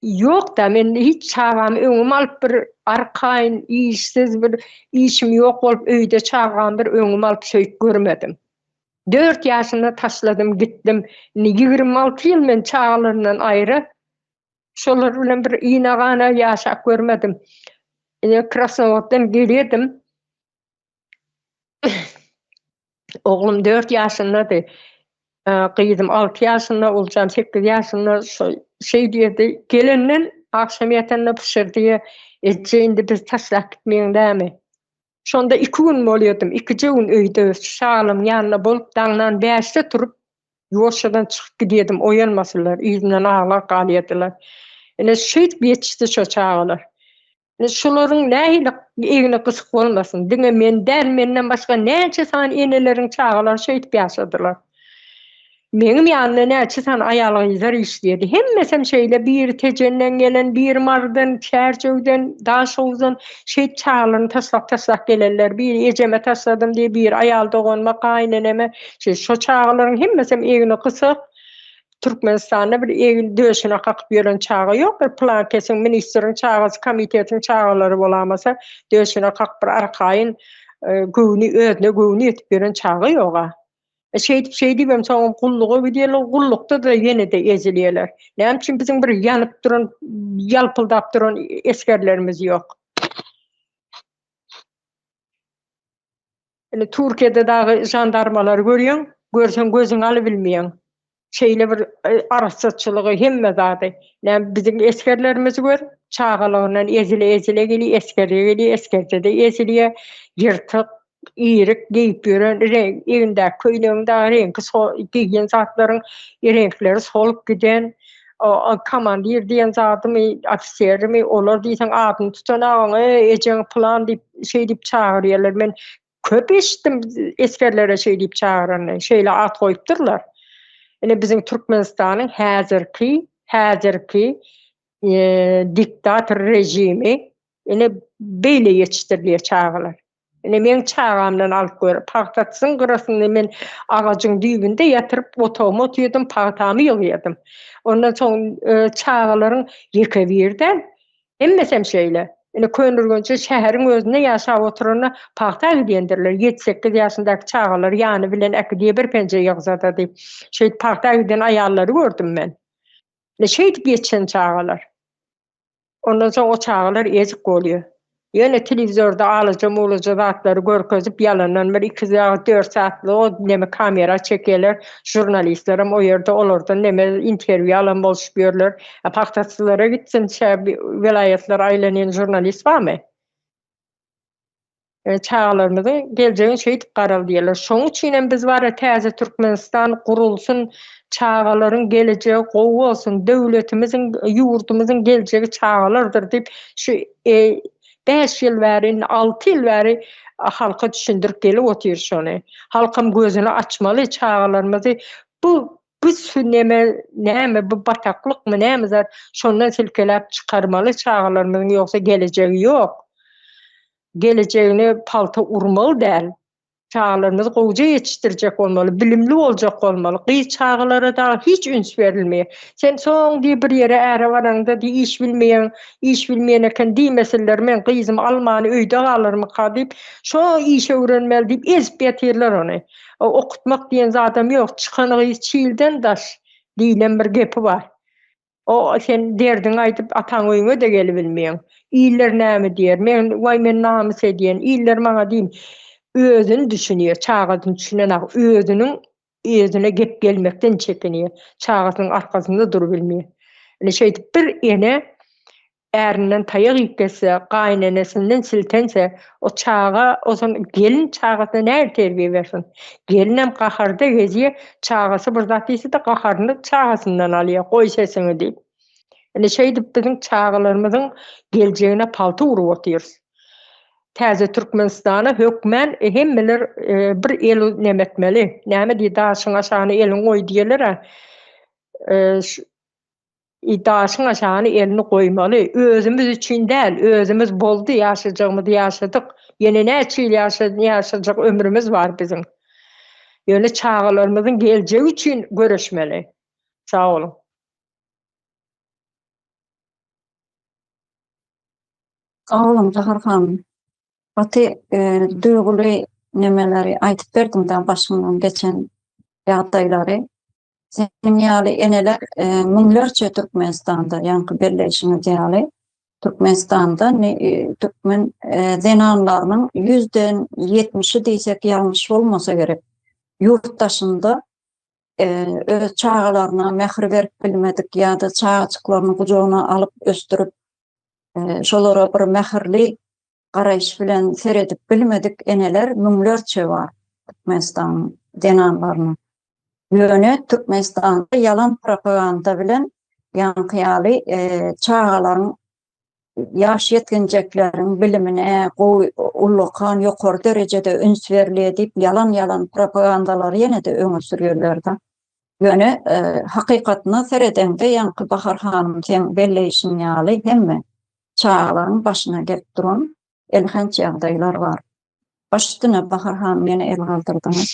Ýok-da, men hiç çagamy öňüme alyp bir arkaýyn, işsiz bir, işim ýok bolup öýde çagamy bir öňüme alyp söýüp görmedim. Dört ýaşynda taşladym, gitdim. Indi ýigrimi alty ýyl men çagalarymdan aýra. Şolar bilen bir ina-gana ýaşap görmedim. Ine, Krasnowoddan gelýärdim. Oglum dört ýaşyndady. Gyzym alty ýaşynda, Oljam sekiz ýaşynda. Şol şeý diýerdi. Gelenden, agşam ýatanda pyşyrdýa, Eje, indi bizi taşlap gitmegiň dämi? Şonda iki gün bolýardym, ikije gün öýde şalyň ýanynda bolup, daňdan bäşde turup, ýuwaşjadan çykyp gidýärdim, oýanmasylar, yzymdan aglap galýardylar. Ine, şeýdip ýetişdi şo çagalar. Ine, şolaryň nähili egni gysyk bolmasyn, diňe men däl, menden başga näçe sany eneleriň çagalary şeýdip ýaşadylar. Meňim ýanynda näçe sany aýal-gyzlar işleýärdi. Hemmesem şeýle biri Tejenden gelen, biri Marydan, Çärjewden, Daşoguzdan şeýdip çagalaryny taşlap-taşlap gelenler. Biri ejeme taşladym diýip, biri aýal doganyma, gaýyneneme. Şo çagalaryň hemmesem egni gysyk. Türkmenistanda bir egin döşüne kakyp ýören çaga ýok. Bir pylankesiň, ministriň çagasy, komitetiň çagalary bolamasa, döşüne kakyp bir arkaýyn göwni özüne göwni ýetip ýören çaga ýog-a. E, şeýdip şeýdip hem soňam gulluga gidýärler, gullukda-da ýene-de ezilýärler. Näme üçin biziň bir ýanyp duran, ýalpyldap duran esgerlerimiz ýok? Indi Türkiýede dagy žandarmalary görýäň, görseň gözüňi alybilmeýäň. şeýle bir arassaçylygy hemme zady näme biziň esgerlerimizi gör çagalygyndan ezile ezile gelýär esgerlige gelýär esgerjede ezilýär ýyrtyk iýrik geýip ýören egnindäki köýnegiň dagy reňki sol geýen zatlaryň reňkleri solup giden komandir diýen zadymy ofiserimi olar diýseň adyny tutan agaň eý ejeň pylan diýip şeý diýip çagyrýarlar men Köp eşitdim esgerlere şeý diýip çagyranyny, şeýle at goýupdyrlar. Ine biziň Türkmenistanyň häzirki häzirki e, diktator režimi ine beýle ýetişdirilýär çagalar. Ine meň çagamdan alyp gör, pagtasyň gyrasynda men agajyň düýbünde ýatyryp otagyma oturdym, pagtamy ýygýardym. Ondan soň e, çagalaryň ýeke birden Hemmesem şeýle. Ine, Köneürgençli şäheriň özünde ýaşap oturanda pagta gidýändirler. Ýedi-sekiz ýaşyndaky çagalary ýany bilen äkidýä bir penje ýygzadady. Şeýdip pagta giden aýallary gördüm men. Ine, şeýdip ýetişen çagalar. Ondan soň o çagalar ezik bolýa. Ýöne telewizorda alaja-mulaja zatlary görkezip, ýalandan bir iki ýa-da dört satlyk o neme kamera çekýärler. Žurnalistlerem o ýerde olardan neme interwýu alan bolşup ýörler. A pagtaçylara gitsinçä welaýatlary aýlanýan žurnalist barmy? E, çagalarymyzyň geljegini şeýdip garal diýerler. Şoň üçin hem biz bara täze Türkmenistan gurulsun, çagalaryň gelejegi gowy bolsun, döwletimiziň, ýurdumyzyň geljegi çagalardyr diýip, şu e, bäş ýyl bäri, indi alty ýyl bäri halka düşündirip gelip otyr şony. Halkam gözüni açmaly, çagalarymyzy bu Bu su neme, näme bu bataklykmy, näme zat, şondan silkeläp çykarmaly çagalarymyzyň ýogsa gelejegi ýok. Gelejegine palta urmaly däl. Çagalarymyzy gowja ýetişdirjek bolmaly, bilimli boljak bolmaly. Gyz çagalara dagy hiç üns berilmeýär. Sen soň diý bir ýere äre baraňda diý iş bilmeýäň, iş bilmeýän eken diýmesinler, men gyzym almany öýde galarmyka diýip, şo işe öwrenmeli diýip ezip ýatyrlar ony. O okutmak diýen zadam ýok. Çykan gyz çilden daş diýlen bir gepi bar. O sen derdiňi aýdyp ataň öýüňe-de gelibilmeýäň. Iller näme diýer? Men waý men namys edýän. Iller maňa diýin. Özüni düşünýär. Çagasyny düşünenak. Özüniň özüne gep gelmekden çekinýär. Çagasynyň arkasynda durubilmeýär. Ine şeýdip bir ene Ärinden taýak iýip gelse, gaýynenesinden siltense, o çaga ozan gelin çagasyna nähili terbiýe bersin? Gelinem gaharda gezýär, çagasy bir zat diýse-de gaharyny çagasyndan alýar, goý sesiňi diýip. Ine şeýdip biziň çagalarymyzyň geljegine palta urup otyrys. Täze Türkmenistana hökmän hemmeler bir el neme etmeli. Näme diýdi, daşyň aşagyna eliňi goý diýerler-ä. Eý, daşyň aşagyna elini goýmaly. Özümiz üçin däl, özümiz boldy, ýaşajagymyzy ýaşadyk. Ýene näçe ýyl ýaşajak ömrümiz bar biziň. Ýöne çagalarymyzyň geljegi üçin göreşmeli. Sag boluň. Sag boluň Zahar hanym. Gaty duýguly nemeleri aýdyp berdiňiz-ä başyňdan geçen ýagdaýlary. Seniň ýaly eneler müňlerçe Türkmenistanda, ýaňky belleýşiňiz ýaly, Türkmenistanda türkmen zenanlarynyň ýüzden ýetmişi diýsek ýalňyş bolmasa gerek, ýurt daşynda öz çagalaryna mähir berip bilmedik ýa-da çagajyklaryny gujagyna alyp ösdürip, şolara bir mähirli garaýyş bilen seredip bilmedik eneler müňlerçe bar Türkmenistanyň zenanlarynyň. Ýöne Türkmenistanda ýalan propaganda bilen ýaňky ýaly e, çagalaryň ýaş ýetginjekleriň bilimine gowy ullakan ýokary derejede üns berilýär diýip ýalan-ýalan propagandalary ýene-de öňe sürýärler-de. Ýöne hakykatyna seredeňde ýaňky Bahar hanym seň belleýşiň ýaly hemme çagalaryň başyna gelip duran elhenç ýagdaýlar bar. Baş üstüne Bahar hanym ýene el galdyrdyňyz.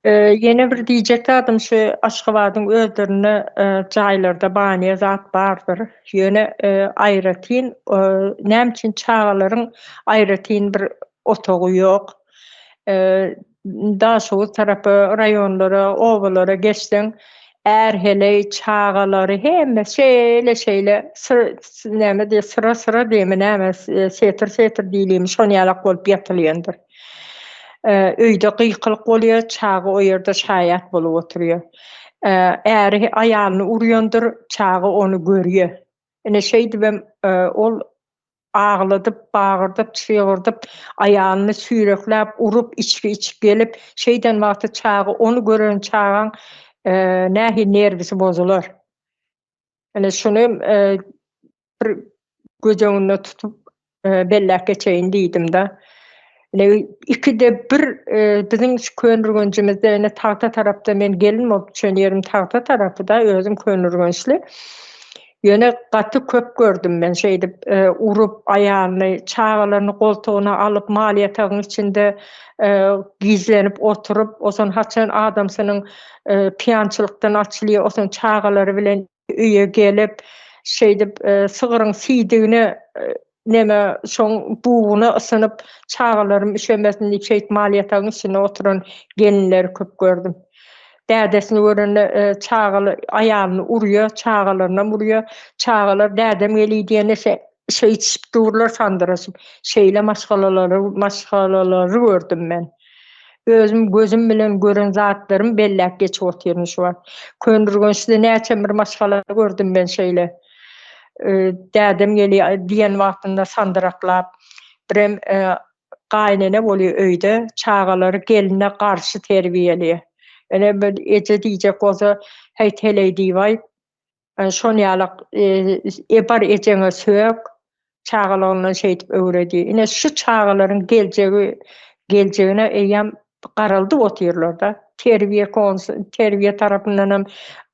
Ýene bir diýjek zadym şu Aşgabadyň özlerinde jaýlarda baniýa zat bardyr. Ýöne aýratyn näme üçin çagalaryň aýratyn bir otagy ýok. Daşoguz tarapa, raýonlara, obalara geçseň, är-heleý, çagalary hemmesi şeýle-şeýle näme diýer, syra-syra diými, näme, setr-setr diýilimi, şon ýalak bolup ýatylýandyr. Öýde gykylyk bolýar, çaga o ýerde şaýat bolup oturýar. Äri aýalyny urýandyr, çaga ony görýär. Ine, şeýdibem ol agladyp, bagyrdyp, çygyrdyp, aýalyny süýrekläp, urup, içgi içip gelip, şeýden wagty çaga ony gören çagaň nähili nerwisi bozular. Ine, şuny bir göz öňünde tutup belläp geçeýin diýdim-de. Ine, ikide bir biziň şu Köneürgenjimizde, ine, tagta tarapda men gelin bolup düşen ýerim tagta tarapy-da, özüm Köneürgençli. Ýöne gaty köp gördüm men şeýdip, urup, aýalyny, çagalaryny goltugyna alyp, mal ýatagyň içinde gizlenip oturyp, o son haçan adamsynyň pyýançylykdan açylýar, o son çagalary bilen Öýe gelip, şeýdip, sygryň siýdigine, neme, şoň buguny ysynyp, çagalarym üşemesin diýip, şeýdip, mal-ýatagyň içinde oturan gelinleri köp gördüm. Dädesini görende, çagaly aýalyny urýar, çagalarynam urýar. Çagalar dädem geliý diýende, Şeýtişip durlar sandyraşyp. Şeýle maşgalalary, maşgalalary gördüm men. Özüm gözüm bilen gören zatlarymy belläp geçip otyryn şu wagt. Köneürgençde näçem bir maşgala gördüm men şeýle. Dädem geli diýen wagtynda sandyraklap. Birem gaýynene bolýar öýde, çagalary gelne garşy terbiýeli. Ene bir eje diýjek bolsa, häý, teleý diýibaý. Şon ýalak Ebar ejeňe sök. Çagalygyndan şeýdip öwredi. Ine şu çagalaryň geljegi geljegine eýýäm garaldyp otyrlarda. Terbiýe terbiýe tarapyndanam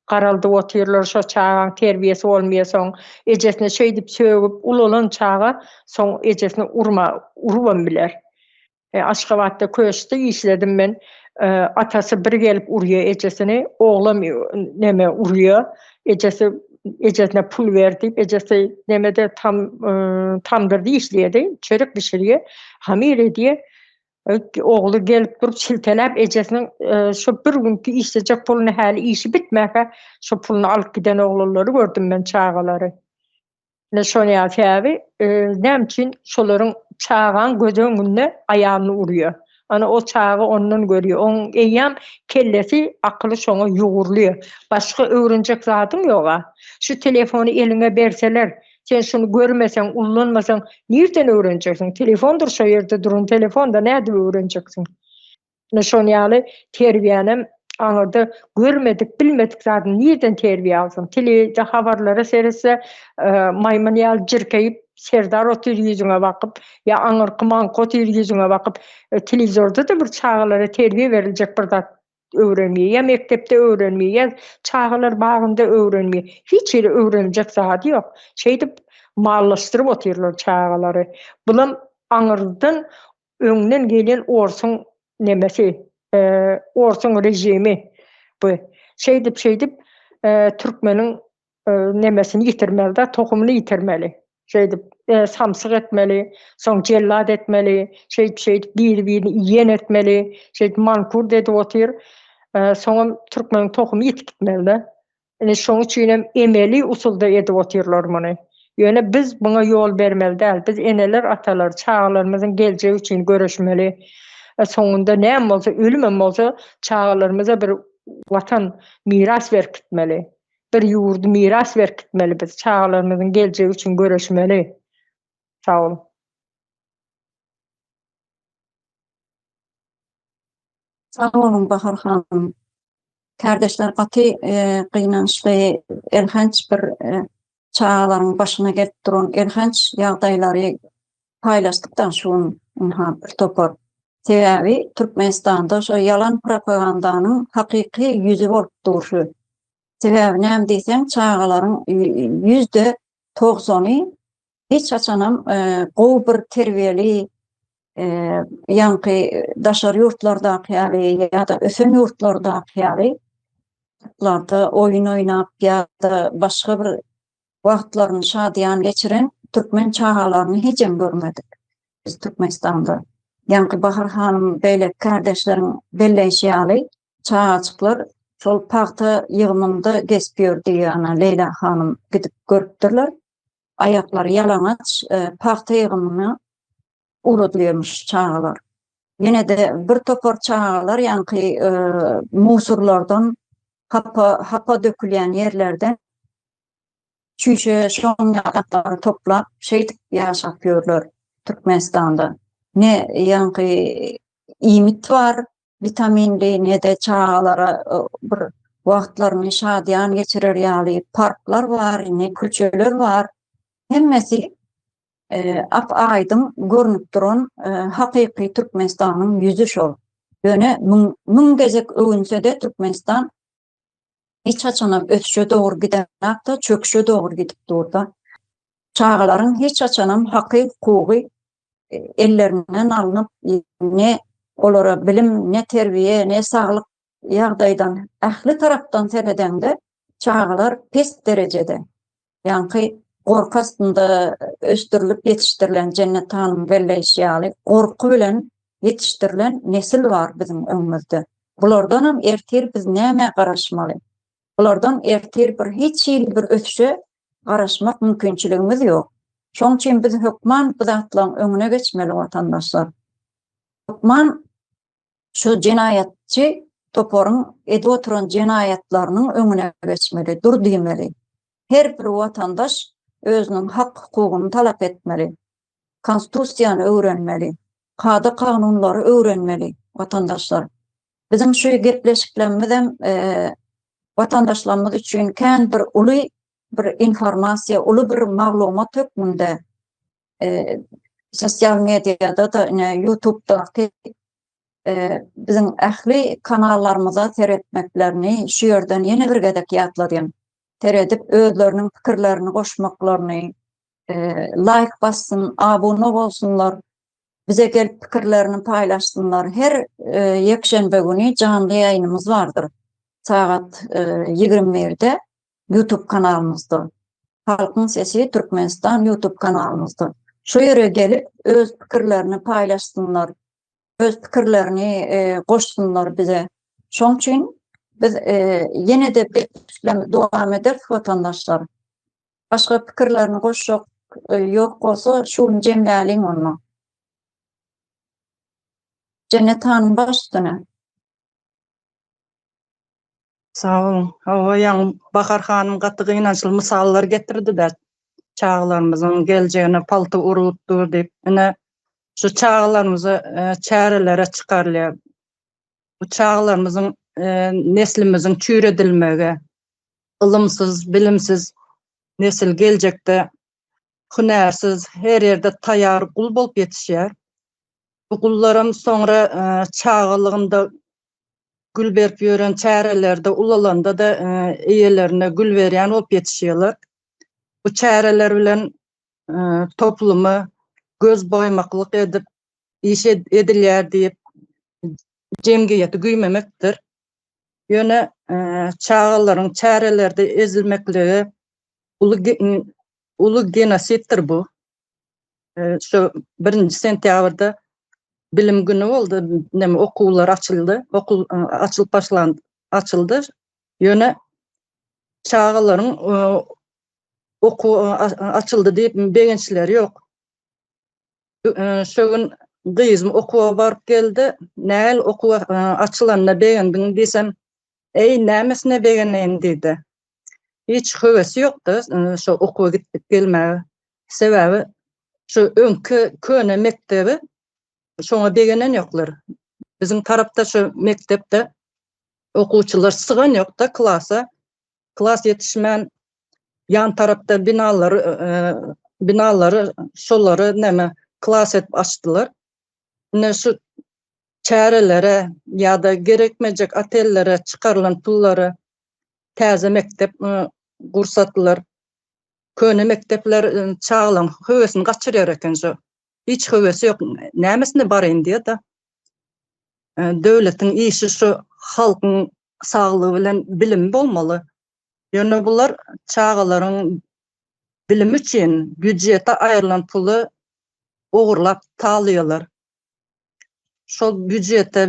garaldyp otyrlar. Şo çagaň terbiýesi bolmaýasoň, ejesine şeýdip sögüp ulalan çaga soň ejesini urma urubam biler. Aşgabatda köşkde işledim men. Atasy bir gelip urýa ejesini, oglam neme urýa. Ejesi ejesine pul ber diýip, ejesi nemede tam tamdyrda işleýärdi, çörek bişirýä, hamyr edýä. Ogly gelip durup silteläp ejesiniň şu bir günki işlejek puluny häli işi bitmäkä şu puluny alyp giden oglanlary gördüm men çagalary. Ne soňýar Fäbi, näme üçin şolaryň çagaň göz öňünde aýalyny urýar? Ana o çaga ondan görýär. Oň eýýäm kellesi, akyly şoňa ýugurly. Başga öwrenjek zadyň ýog-a. Şu telefony eliňe berseler, sen şuny görmeseň, ullanmasaň, nirden öwrenjegsiň? Telefondyr şo ýerde duran telefon-da nädip öwrenjegsiň? Ine şonuň ýaly terbiýänem aňyrda görmedik, bilmedik zadyny nireden terbiýe alsyn? Telewizde habarlara seretse, e, maýmyn ýaly jirkeýip, Serdar otyr ýüzüňe bakyp, ýa aňyrky maňky otyr ýüzüňe bakyp, e, telewizorda-da bir çagalara terbiýe beriljek bir zat öwrenmeýär. Ýa mekdepde öwrenmeýär, ýa çagalar bagynda öwrenmeýär. Hiç ýerde öwreniljek zady ýok. Şeýdip mallaşdyryp otyrlar çagalary. Bulam aňyrdan Öňden gelen orsuň nemesi, orsuň režimi bu. Şeýdip-şeýdip türkmeniň nemesini ýitirmeli-de, tohumyny ýitirmeli. Şeýdip, samsyk etmeli, soň jellat etmeli, şeýdip-şeýdip biri-birini iýen etmeli, şeýdip mankurt edip otyr. Soňam türkmeniň tohumy ýitip gitmeli-de. Indi şoň üçin hem emeli usulda edip otyrlar muny. Ýöne biz muňa ýol bermeli däl. Biz eneler, atalar, çagalarymyzyň geljegi üçin göreşmeli. Soňunda näme bolsa, ölümem bolsa, çagalarymyza bir Watan miras berip gitmeli. Bir ýurdy miras berip gitmeli biz. Çagalarymyzyň geljegi üçin göreşmeli. Sag boluň. Sag boluň Bahar hanym. Kardeşler gaty e, gynançly elhenç bir e, çagalaryň başyna gelip duran elhenç ýagdaýlary paýlaşdykda şu gün ynha bir topar. Sebäbi Türkmenistanda şu ýalan propagandanyň hakyky ýüzi bolup dur şu. Sebäbi näme diýseň çagalaryň ýüzde togzany hiç haçanam gowy bir terbiýeli ýaňky daşary ýurtlardaky ýaly ýa-da ösen ýurtlardaky ýaly larda oýun oýnap ýa-da başga bir wagtlaryny şadyýan geçiren türkmen çagalaryny hijem görmedik biz Türkmenistanda. Ýaňky Bahar hanym beýle kärdeşleriň belleýşi ýaly çagajyklar şol pagta ýygymynda gezip ýördi, ýa-da Leýla hanym gidip görüpdirler. aýaklary ýalaňaç pagta ýygymyna ugradylýarmyş çagalar. Ýene-de bir topar çagalar ýaňky musurlardan, hapa hapa dökülýän ýerlerden çüýşe şoň ýapaklaryny toplap, şeýdip ýaşap ýörler Türkmenistanda. Ne ýaňky iýmit bar, Witamin D ne-de çagalara bir wagtlaryny şadyýan geçirer ýaly parklar bar, indi köçeler bar. Hemmesi ap-aýdyň görnüp duran hakyky Türkmenistanyň ýüzi şol. Ýöne müň gezek öwünse-de Türkmenistan hiç haçanam ösüşe dogry gidenakda çöküşe dogry gidip durda. Çagalaryň hiç haçanam haky hukugy e, ellerinden alnyp ne olara bilim, ne terbiye, ne saglyk ýagdaýdan ähli tarapdan seredende çagalar pes derejede. Ýaňky gorky astynda ösdürilip ýetişdirilen Jennet hanyň belleýşi ýaly, gorky bilen ýetişdirilen nesil bar biziň öňümizde. Bulardanam ertir biz nämä garaşmaly? Bulardan ertir bir hiç hili bir ösüşe garaşmak mümkinçiligimiz ýok. Şoň üçin biz hökman bu zatlaryň öňüne geçmeli watandaşlar. Hökman şu jenaýatçy toparyň edip oturan jenaýatlarynyň öňüne geçmeli, dur diýmeli. Her bir watandaş özüniň hak-hukugyny talap etmeli. Konstitusiýany öwrenmeli. Kada-kanunlary öwrenmeli watandaşlar. Biziň şu gepleşiklerimizem watandaşlarymyz üçin kän bir uly bir informasiýa, uly bir maglumat hökmünde e, sosial mediada da ine YouTube'daky e, biziň ähli kanallarymyza seretmeklerini şu ýerden ýene bir gezek ýatladýan. Seredip özleriniň pikirlerini goşmaklaryny, e, laýk bassyn, abuna bolsunlar, bize gelip pikirlerini paýlaşsynlar. Her e, ýekşenbe güni janly ýaýnymyz bardyr. Sagat e, 21-de YouTube kanalymyzdyr. Halkyň sesi Türkmenistan YouTube kanalymyzdyr. Şu ýere gelip öz pikirlerini paýlaşsynlar. Öz pikirlerini goşsunlar bize. Şoň üçin biz ýene-de besleme dowam ederis watandaşlar. Başga pikirlerini goşjak ýok bolsa şu gün jemläliň onda. Jennet hanym baş üstüne. Sag boluň. Hawa, ýaňy Bahar hanym gaty gynançly mysallar getirdi-de, çagalarymyzyň geljegine palta urulyp dur diýip. Ine, şu çagalarymyza e, çärelere çykarylýar. Bu çagalarymyzyň e, neslimiziň çüýredilmegi, ylymsyz, bilimsiz nesil geljekde hünärsiz, her ýerde taýýar gul bolup ýetişýär. Bu gullaram soňra çagalygynda gül berip ýören çärelerde ulalanda-da eýelerine gül berýän bolup ýetişýärler. Bu çäreler bilen toplumy göz boýmaklyk edip iş edilýär diýip jemgyýeti güýmemekdir. Ýöne çagalaryň çärelerde ezilmekligi uly Uly genosiddir bu. Şu 1-nji sentýabrda bilim güni boldy, näme okuwlar açyldy, okuw açylyp başlandy, açyldy. Ýöne çagalaryň okuw açyldy diýip begençleri ýok. Şu gün gyzym okuwa baryp geldi, Näl okuw açylanda begendiň diýsem, Eý, nämesine begeneýin diýdi. hiç höwesi ýokdy şo okuwa gitdik gelmäge. Sebäbi şu öňki köne mekdebi şoňa begenen ýoklar. Biziň tarapda şu mekdepde okuwçylar sygan ýokda klasa. Klas ýetişmän ýan tarapda binalary binalary şolary näme klas edip açdylar. Ine şu çärelere ýa-da gerekmejek otellere çykarylan pullara täze mekdep gursatlar, köne mekdepler çagalaň höwesini gaçyrýar eken şu. Hiç höwesi ýok. Nämesine baryn diýe-de. Döwletiň işi şu halkyň saglygy bilen bilimi bolmaly. Ýöne bular çagalaryň bilimi üçin býujete aýrylan puly ogurlap talaýarlar. Şol býujete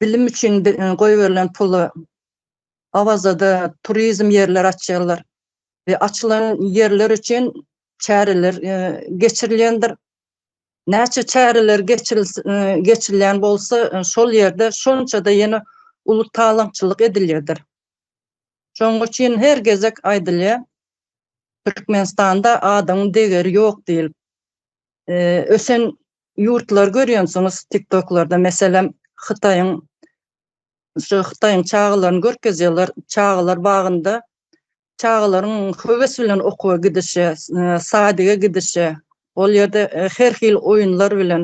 bilim üçin goýberilen pula Awazada turizm ýerleri açýarlar we açylan ýerler üçin çäreler geçirilýändir. Näçe çäreler geçirilýän bolsa, şol ýerde şonça-da ýene uly talaňçylyk edilýärdir. Şonuň üçin her gezek aýdylýar, Türkmenistanda adyň degeri ýok diýlip. Ösen ýurtlary görýänsiňiz tiktoklarda meselem hytaýyň şu hytaýyň çagalaryny görkezýärler çagalar bagynda çagalaryň höwes bilen okuwa gidişi sadyga gidişi ol ýerde her hil oýunlar bilen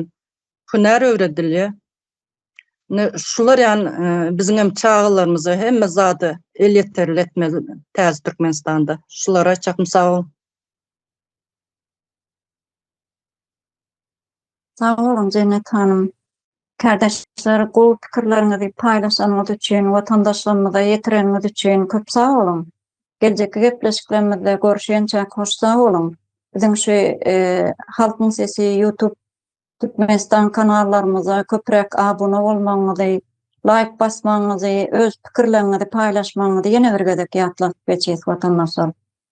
hünär öwredilýär ine şular ýaly biziňem çagalarymyza hemme zady elýeterli etmeli täze türkmenistanda şulary aýtjakmyş sag boluň. Sag boluň Jennet hanym. Kardeşler gowy pikirleriňizi paýlaşanyňyz üçin, watandaşlarymyza ýetireniňiz üçin köp sag boluň. Geljekki gepleşiklerimizde görüşençä hoş sag boluň. Biziň şu Halkyň sesi YouTube Türkmenistan kanallarymyza köpräk abuna bolmagyňyzy, laýk basmagyňyzy, öz pikirleriňizi paýlaşmagyňyzy ýene bir gezek ýatladyp geçýäs watandaşlar.